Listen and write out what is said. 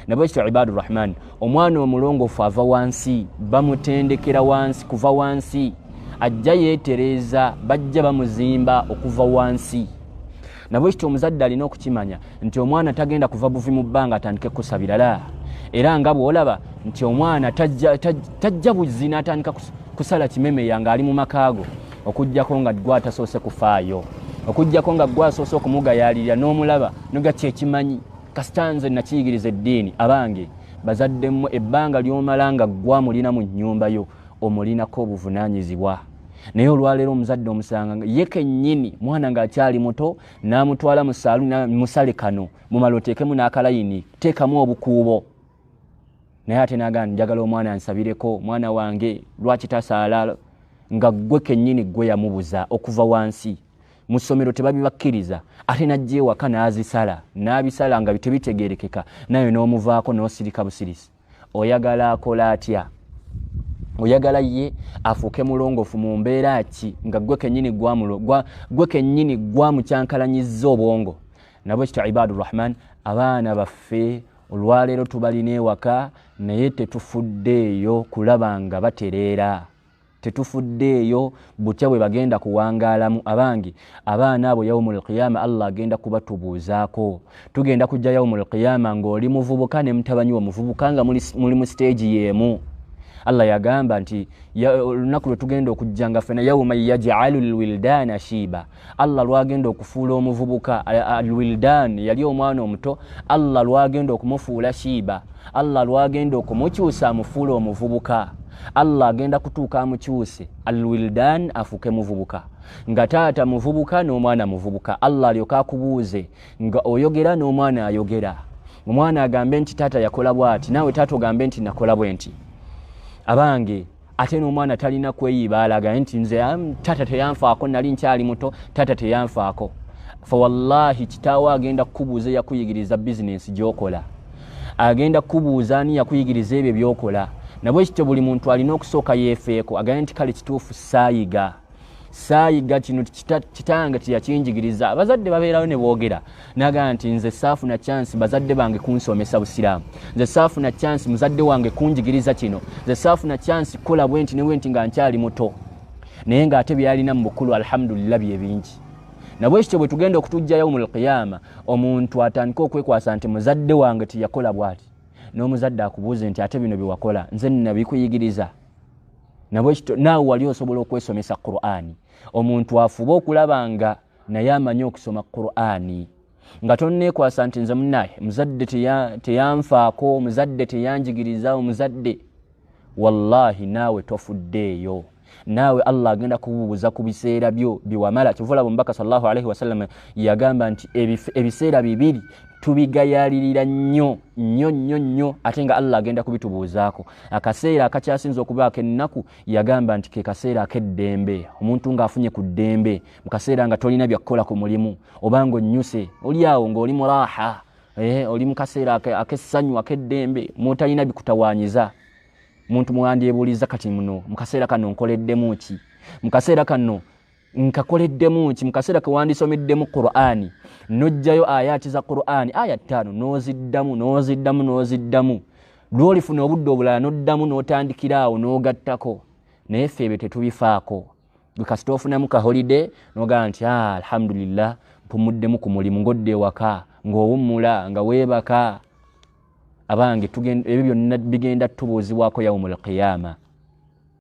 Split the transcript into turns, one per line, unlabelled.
nabwekityo ibadu rahman omwana omulongofu ava wansi bamutendekera wansi kuva wansi ajja yetereeza bajja bamuzimba okuva wansi nabwekityo omuzadde alina okukimanya nti omwana tagenda kuva buvi mu bbanga atandike kusabira la era nga bwolaba nti omwana tajja buzzi natandika kusala kimemeya ngaali mu makaago okugjako nga gwe atasoose kufaayo okugjako nga gwe asoose okumugayaalirira n'omulaba noga kyekimanyi kasita nze nakiyigiriza eddiini abange bazadde mmwe ebbanga ly'omala nga ggwa mulina mu nnyumba yo omulinako obuvunaanyizibwa naye olwaleero omuzadde omusanga ye kennyini mwana ng'akyali muto n'amutwala mu saalu musale kano mumala oteekemu n'akalayini teekamu obukuubo naye ate nagana njagala omwana ansabireko mwana wange lwaki tasaala nga ggwe kennyini ggwe yamubuza okuva wansi mu ssomero tebabibakkiriza ate najja ewaka n'azisala n'abisala nga bitebitegerekeka naye n'omuvaako n'osirika busirisi oyagala akola atya oyagala ye afuuke mulongofu mu mbeera ki nga gwe kenyini gwe kenyini gwamukyankalanyiza obwongo nabwe kityo ibadu rahman abaana baffe olwaleero tubalina ewaka naye tetufuddeeyo kulaba nga batereera tetufuddeeyo butya bwe bagenda kuwangaalamu abange abaana abo yaumu lqiyama allah agenda kubatubuuzaako tugenda kujja yaumu lqiyama ng'oli muvubuka ne mutabanyi wa muvubuka nga muli mu siteegi y'emu allah yagamba nti olunaku lwe tugenda okujja nga fena yauma yajalu lwildaana shiiba allah lwagenda okufuula omuvubuka alwildan yali omwana omuto allah lwagenda okumufuula shiiba allah lwagenda okumukyusa amufuule omuvubuka allah agenda kutuuka amukyuse alwildan afuuke muvubuka nga taata muvubuka n'omwana muvubuka allah alyoka akubuuze nga oyogera n'omwana ayogera omwana agambe nti taata yakola bwati naawe taata ogambe nti nakola bwe nti abange ate n'omwana talina kweyiba alaga nti nze tata teyanfaako nali nkyali muto tata teyanfaako fa wallahi kitaawo agenda kukubuuza eyakuyigiriza bizinensi gyokola agenda kukubuuza ani yakuyigiriza ebyo byokola nabwekityo buli muntu alina okusooka yeefeeko agambye nti kale kituufu saayiga saayiga kino kitange teyakinjigiriza abazadde babeerayo ne boogera nagamba nti nze saafuna chansi bazadde bange kunsomesa busiraamu nze saafuna chansi muzadde wange kunjigiriza kino nze saafuna chansi kukola bwenti ne bwenti nga nkyali muto naye ng'ate byalina mu bukulu alhamdulillah bye bingi nabwe ekityo bwe tugenda okutujja yaumu lkiyama omuntu atandike okwekwasa nti muzadde wange teyakola bwati n'omuzadde akubuuze nti ate bino bye wakola nze nabikuyigiriza nabwekityo naawe wali osobola okwesomesa qurani omuntu afuba okulaba nga naye amanyi okusoma qurani nga tonneekwasa nti nze munaye muzadde teyanfaako omuzadde teyanjigiriza omuzadde wallahi naawe tofuddeeyo naawe allah agenda kububuza ku biseera byo byewamala kyovulaba omubaka salllahualaihi wasalama yagamba nti ebiseera bibiri tubigayalirira nnyo nnyo nnyo nnyo ate nga allah agenda kubitubuuzaako akaseera akakyasinza okubaako ennaku yagamba nti kekaseera akeddembe omuntu ngaafunye ku ddembe mu kaseera nga tolina byakukola ku mulimu oba nga onnyuse oli awo ngaoli muraha eh, oli mu kaseera akessanyu akeddembe mutalina bikutawanyiza muntu mwandyebuuliza kati muno mu kaseera kano nkoleddemu ki mu kaseera kano nkakoleddemu nki mu kaseera ke wandisomeddemu qur'ani n'ojjayo ayaati za qur'ani aya ttaano n'oziddamu n'oziddamu n'oziddamu lwolifuna obudde obulala n'oddamu n'otandikira awo n'ogattako naye ffe ebyo tetubifaako gwe kasita ofunamu kaholide n'ogamba nti ah, alhamdulillah mpumuddemu ku mulimu ng'odda ewaka ng'owummula nga weebaka abange ebyo byonna bigenda tubuuzibwako yaumul qiyama